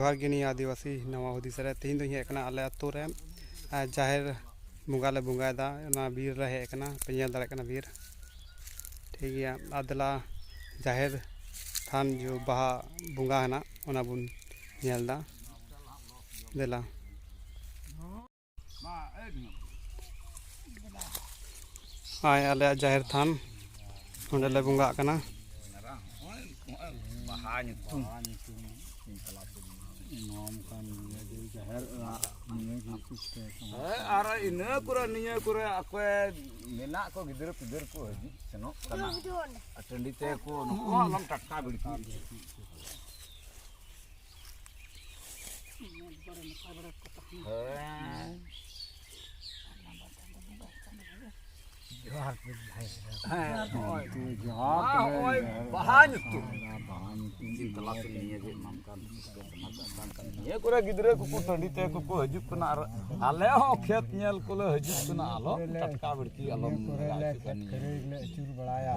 ᱡᱚᱦᱟᱨ ᱜᱮ ᱱᱤᱭᱟᱹ ᱟᱹᱫᱤᱵᱟᱹᱥᱤ ᱱᱟᱣᱟ ᱦᱩᱫᱤᱥ ᱨᱮ ᱛᱮᱦᱮᱧ ᱫᱚᱧ ᱦᱮᱡ ᱟᱠᱟᱱᱟ ᱟᱞᱮ ᱟᱹᱛᱩ ᱨᱮ ᱡᱟᱦᱮᱨ ᱵᱚᱸᱜᱟ ᱞᱮ ᱵᱚᱸᱜᱟᱭᱮᱫᱟ ᱚᱱᱟ ᱵᱤᱨ ᱨᱮ ᱦᱮᱡ ᱟᱠᱟᱱᱟ ᱯᱮ ᱧᱮᱞ ᱫᱟᱲᱮᱭᱟᱜ ᱠᱟᱱᱟ ᱵᱤᱨ ᱴᱷᱤᱠ ᱜᱮᱭᱟ ᱟᱨ ᱫᱮᱞᱟ ᱡᱟᱦᱮᱨ ᱛᱷᱟᱱ ᱡᱚ ᱵᱟᱦᱟ ᱵᱚᱸᱜᱟ ᱦᱮᱱᱟᱜ ᱚᱱᱟ ᱵᱚᱱ ᱧᱮᱞ ᱮᱫᱟ ᱫᱮᱞᱟ ᱦᱳᱭ ᱟᱞᱮᱭᱟᱜ ᱡᱟᱦᱮᱨ ᱛᱷᱟᱱ ᱱᱚᱸᱰᱮ ᱞᱮ ᱵᱚᱸᱜᱟᱜ ᱠᱟᱱᱟ ᱵᱟᱦᱟ ᱧᱩᱛᱩᱢ ᱟᱨ ᱤᱱᱟᱹ ᱠᱚᱨᱮ ᱱᱤᱭᱟᱹ ᱠᱚᱨᱮ ᱚᱠᱚᱭ ᱢᱮᱱᱟᱜ ᱠᱚ ᱜᱤᱫᱽᱨᱟᱹ ᱯᱤᱫᱽᱨᱟᱹ ᱠᱚ ᱦᱤᱡᱩᱜ ᱥᱮᱱᱚᱜ ᱠᱟᱱᱟ ᱴᱟᱺᱰᱤ ᱛᱮᱠᱚ ᱱᱩᱠᱩ ᱦᱚᱸ ᱟᱞᱚᱢ ᱴᱟᱴᱠᱟ ᱵᱷᱤᱲᱠᱟᱹᱣ ᱱᱤᱭᱟᱹ ᱠᱚᱨᱮ ᱜᱤᱫᱽᱨᱟᱹ ᱠᱚᱠᱚ ᱴᱟᱺᱰᱤ ᱛᱮ ᱠᱚᱠᱚ ᱦᱤᱡᱩᱜ ᱠᱟᱱᱟ ᱟᱨ ᱟᱞᱮ ᱦᱚᱸ ᱠᱷᱮᱛ ᱧᱮᱞ ᱠᱚᱞᱮ ᱦᱤᱡᱩᱜ ᱠᱟᱱᱟ ᱟᱞᱚ ᱴᱟᱴᱠᱟ ᱵᱟᱹᱲᱛᱤ ᱟᱞᱚᱢ ᱞᱟᱜᱟᱣ ᱦᱚᱪᱚᱜ ᱠᱟᱱᱟ ᱱᱤᱭᱟᱹ ᱟᱹᱪᱩᱨ ᱵᱟᱲᱟᱭᱟ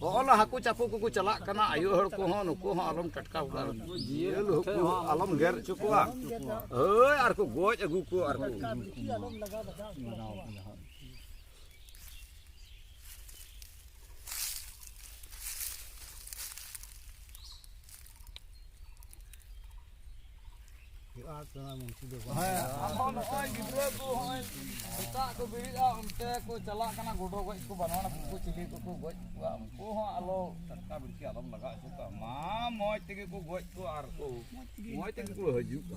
ᱚᱞ ᱦᱟᱹᱠᱩ ᱪᱟᱯᱚ ᱠᱚᱠᱚ ᱪᱟᱞᱟᱜ ᱠᱟᱱᱟ ᱟᱭᱳ ᱦᱚᱲ ᱠᱚᱦᱚᱸ ᱱᱩᱠᱩ ᱦᱚᱸ ᱟᱞᱚᱢ ᱴᱟᱴᱠᱟ ᱠᱚᱣᱟ ᱡᱤᱭᱟᱹᱞ ᱦᱟᱹᱠᱩ ᱦᱚᱸ ᱟᱞᱚᱢ ᱜᱮᱨ ᱦᱚᱪᱚ ᱠᱚᱣᱟ ᱦᱳᱭ ᱟᱨ ᱠᱚ ᱜᱚᱡ ᱟᱹᱜᱩ ᱠᱚᱣᱟ ᱟᱨ ᱠᱚ ᱟᱫᱚ ᱱᱚᱜᱼᱚᱭ ᱜᱤᱫᱽᱨᱟᱹ ᱠᱚ ᱦᱚᱸᱜᱼᱚᱭ ᱥᱮᱛᱟᱜ ᱠᱚ ᱵᱮᱨᱮᱫᱼᱟ ᱚᱱᱛᱮ ᱠᱚ ᱪᱟᱞᱟᱜ ᱠᱟᱱᱟ ᱜᱚᱰᱚ ᱜᱚᱡ ᱠᱚ ᱵᱟᱱᱟᱣ ᱠᱚ ᱪᱤᱞᱤ ᱠᱚᱠᱚ ᱜᱚᱡ ᱠᱚᱣᱟ ᱩᱱᱠᱩ ᱦᱚᱸ ᱟᱞᱚ ᱴᱟᱴᱠᱟ ᱵᱤᱲᱠᱤ ᱟᱞᱚᱢ ᱞᱟᱜᱟᱣ ᱦᱚᱪᱚ ᱠᱚᱣᱟ ᱢᱟ ᱢᱚᱡᱽ ᱛᱮᱜᱮ ᱠᱚ ᱜᱚᱡ ᱠᱚᱣᱟ ᱟᱨ ᱠᱚ ᱢᱚᱡᱽ ᱛᱮᱜᱮ ᱠᱚ ᱦᱤᱡᱩᱜᱼᱟ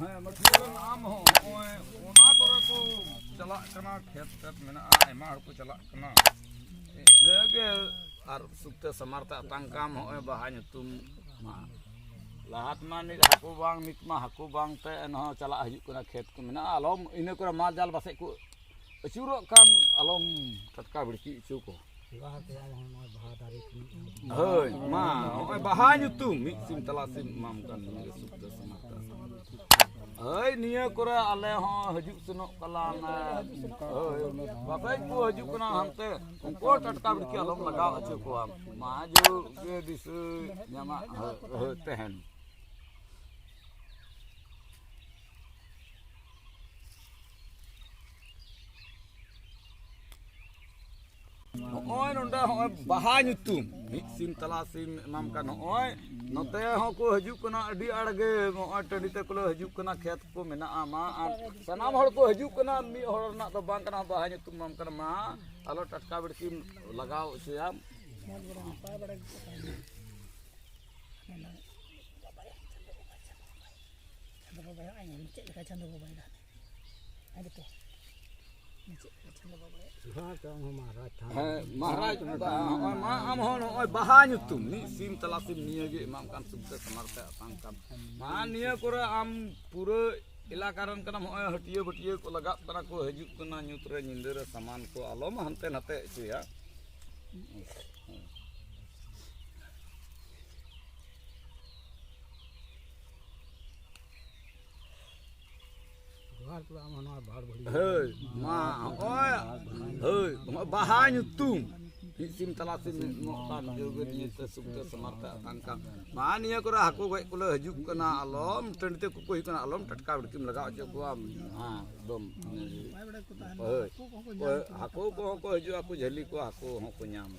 ᱦᱮᱸ ᱢᱟᱹᱴᱷᱩᱣᱟᱹ ᱟᱢ ᱦᱚᱸ ᱱᱚᱜᱼᱚᱭ ᱚᱱᱟ ᱠᱚᱨᱮ ᱠᱚ ᱪᱟᱞᱟᱜ ᱠᱟᱱᱟ ᱠᱷᱮᱛ ᱠᱷᱮᱛ ᱢᱮᱱᱟᱜᱼᱟ ᱟᱭᱢᱟ ᱦᱚᱲ ᱠᱚ ᱪᱟᱞᱟᱜ ᱠᱟᱱᱟ ᱤᱱᱟᱹᱜᱮ ᱟᱨ ᱥᱩᱠᱛᱮ ᱥᱟᱢᱟᱨ ᱛᱮ ᱟᱛᱟᱝ ᱠᱟᱢ ᱱᱚᱜᱼᱚᱭ ᱵᱟᱦᱟ ᱧᱩᱛᱩᱢ ᱢᱟ ᱞᱟᱦᱟ ᱛᱮᱢᱟ ᱱᱤᱛ ᱦᱟᱹᱠᱩ ᱵᱟᱝ ᱱᱤᱛ ᱢᱟ ᱦᱟᱹᱠᱩ ᱵᱟᱝ ᱛᱮ ᱮᱱᱦᱚᱸ ᱪᱟᱞᱟᱜ ᱦᱤᱡᱩᱜ ᱠᱟᱱᱟ ᱠᱷᱮᱛ ᱠᱚ ᱢᱮᱱᱟᱜᱼᱟ ᱟᱞᱚᱢ ᱤᱱᱟᱹ ᱠᱚᱨᱮ ᱢᱟᱞ ᱡᱟᱞ ᱯᱟᱥᱮᱡ ᱠᱚ ᱟᱹᱪᱩᱨᱚᱜ ᱠᱟᱱ ᱟᱞᱚᱢ ᱴᱟᱴᱠᱟ ᱵᱷᱤᱲᱠᱤ ᱦᱚᱪᱚ ᱠᱚᱣᱟ ᱦᱳᱭ ᱢᱟ ᱱᱚᱜᱼᱚᱭ ᱵᱟᱦᱟ ᱧᱩᱛᱩᱢ ᱢᱤᱫ ᱥᱤᱢ ᱛᱟᱞᱟ ᱥᱤᱢ ᱮᱢᱟᱢ ᱠᱟᱱ ᱱᱤᱭᱟᱹ ᱥᱩᱠᱛᱟ ᱥᱚᱢᱟᱛᱟ ᱦᱳᱭ ᱱᱤᱭᱟᱹ ᱠᱚᱨᱮ ᱟᱞᱮ ᱦᱚᱸ ᱦᱤᱡᱩᱜ ᱥᱮᱱᱚᱜ ᱠᱟᱞᱟᱱ ᱦᱳᱭ ᱵᱟᱯᱮᱡ ᱠᱚ ᱦᱤᱡᱩᱜ ᱠᱟᱱᱟ ᱦᱟᱱᱛᱮ ᱩᱱᱠᱩ ᱦᱚᱸ ᱴᱟᱴᱠᱟ ᱵᱤᱲᱠᱤ ᱟᱞᱚᱢ ᱞᱟᱜᱟᱣ ᱦᱚᱪᱚ ᱠᱚᱣᱟ ᱢᱟ ᱡᱩᱜᱽ ᱜᱮ ᱫᱤᱥᱟᱹ ᱧᱟᱢᱟᱜ ᱛᱟᱦᱮᱱ ᱱᱚᱜᱼᱚᱭ ᱱᱚᱰᱮ ᱦᱚᱸᱜᱼᱚᱭ ᱵᱟᱦᱟ ᱧᱩᱛᱩᱢ ᱢᱤᱫ ᱥᱤᱢ ᱛᱟᱞᱟ ᱥᱤᱢ ᱮᱢᱟᱢ ᱠᱟᱱ ᱱᱚᱜᱼᱚᱭ ᱱᱚᱛᱮ ᱦᱚᱸᱠᱚ ᱦᱤᱡᱩᱜ ᱠᱟᱱᱟ ᱟᱹᱰᱤ ᱟᱲ ᱜᱮ ᱱᱚᱜᱼᱚᱭ ᱴᱟᱺᱰᱤ ᱛᱮᱠᱚ ᱞᱮ ᱦᱤᱡᱩᱜ ᱠᱟᱱᱟ ᱠᱷᱮᱛ ᱠᱚ ᱢᱮᱱᱟᱜᱼᱟ ᱢᱟ ᱟᱨ ᱥᱟᱱᱟᱢ ᱦᱚᱲ ᱠᱚ ᱦᱤᱡᱩᱜ ᱠᱟᱱᱟ ᱢᱤᱫ ᱦᱚᱲ ᱨᱮᱱᱟᱜ ᱫᱚ ᱵᱟᱝ ᱠᱟᱱᱟ ᱵᱟᱦᱟ ᱧᱩᱛᱩᱢ ᱮᱢᱟᱢ ᱠᱟᱱᱟ ᱢᱟ ᱟᱞᱚ ᱴᱟᱴᱠᱟ ᱵᱤᱲᱠᱤᱢ ᱞᱟᱜᱟᱣ ᱦᱚᱪᱚᱭᱟᱢ ᱪᱟᱸᱫᱳ ᱵᱟᱵᱟᱭ ᱪᱮᱫ ᱞᱮᱠᱟ ᱪᱟᱸᱫᱳ ᱵᱟᱵᱟᱭ ᱫᱟᱜ ᱦᱮᱸ ᱢᱚᱦᱟᱨᱟᱡᱽ ᱱᱚᱜᱼᱚᱭ ᱢᱟ ᱟᱢ ᱦᱚᱸ ᱱᱚᱜᱼᱚᱭ ᱵᱟᱦᱟ ᱧᱩᱛᱩᱢ ᱢᱤᱫ ᱥᱤᱢ ᱛᱟᱞᱟ ᱥᱤᱢ ᱱᱤᱭᱟᱹ ᱜᱮ ᱮᱢᱟᱢ ᱠᱟᱱ ᱥᱩᱵᱤᱛᱟ ᱥᱟᱢᱟᱨ ᱛᱮ ᱟᱛᱟᱝ ᱠᱟᱱ ᱢᱟ ᱱᱤᱭᱟᱹ ᱠᱚᱨᱮ ᱟᱢ ᱯᱩᱨᱟᱹ ᱮᱞᱟᱠᱟ ᱨᱮᱱ ᱠᱟᱱᱟᱢ ᱱᱚᱜᱼᱚᱭ ᱦᱟᱹᱴᱤᱭᱟᱹ ᱵᱟᱹᱴᱤᱭᱟᱹ ᱠᱚ ᱞᱟᱜᱟᱜ ᱠᱟᱱᱟ ᱠᱚ ᱦᱤᱡᱩᱜ ᱠᱟᱱᱟ ᱧᱩᱛ ᱨᱮ ᱧᱤᱫᱟᱹ ᱨᱮ ᱥᱟᱢᱟᱱ ᱠᱚ ᱟᱞᱚᱢ ᱦᱟᱱᱛᱮ ᱱᱟᱛᱮ ᱦᱚᱪᱚᱭᱟ ᱦᱳᱭ ᱢᱟ ᱦᱚᱸᱜᱼᱚᱭ ᱦᱳᱭ ᱦᱚᱸᱜᱼᱚᱭ ᱵᱟᱦᱟ ᱧᱩᱛᱩᱢ ᱢᱤᱫ ᱥᱤᱢ ᱛᱟᱞᱟ ᱥᱤᱢ ᱢᱤᱫ ᱢᱚᱜ ᱠᱟᱱ ᱡᱳᱜᱮ ᱱᱤᱭᱟᱹ ᱛᱮ ᱥᱩᱠ ᱛᱮ ᱥᱚᱢᱟᱨᱛᱮ ᱟᱛᱟᱝ ᱠᱟᱱ ᱢᱟ ᱱᱤᱭᱟᱹ ᱠᱚᱨᱮ ᱦᱟᱹᱠᱩ ᱜᱚᱡ ᱠᱚᱞᱮ ᱦᱤᱡᱩᱜ ᱠᱟᱱᱟ ᱟᱞᱚᱢ ᱴᱟᱺᱰᱤ ᱛᱮ ᱠᱚᱠᱚ ᱦᱤᱡᱩᱜ ᱠᱟᱱᱟ ᱟᱞᱚᱢ ᱴᱟᱴᱠᱟ ᱵᱤᱲᱠᱤᱢ ᱞᱟᱜᱟᱣ ᱦᱚᱪᱚ ᱠᱚᱣᱟ ᱦᱮᱸ ᱮᱠᱫᱚᱢ ᱦᱳᱭ ᱦᱟᱹᱠᱩ ᱠᱚᱦᱚᱸ ᱠᱚ ᱦᱤᱡᱩᱜᱼᱟ ᱠᱚ ᱡᱷᱟᱹᱞᱤ ᱠᱚᱣᱟ ᱦᱟᱹᱠᱩ ᱦᱚᱸᱠᱚ ᱧᱟᱢᱟ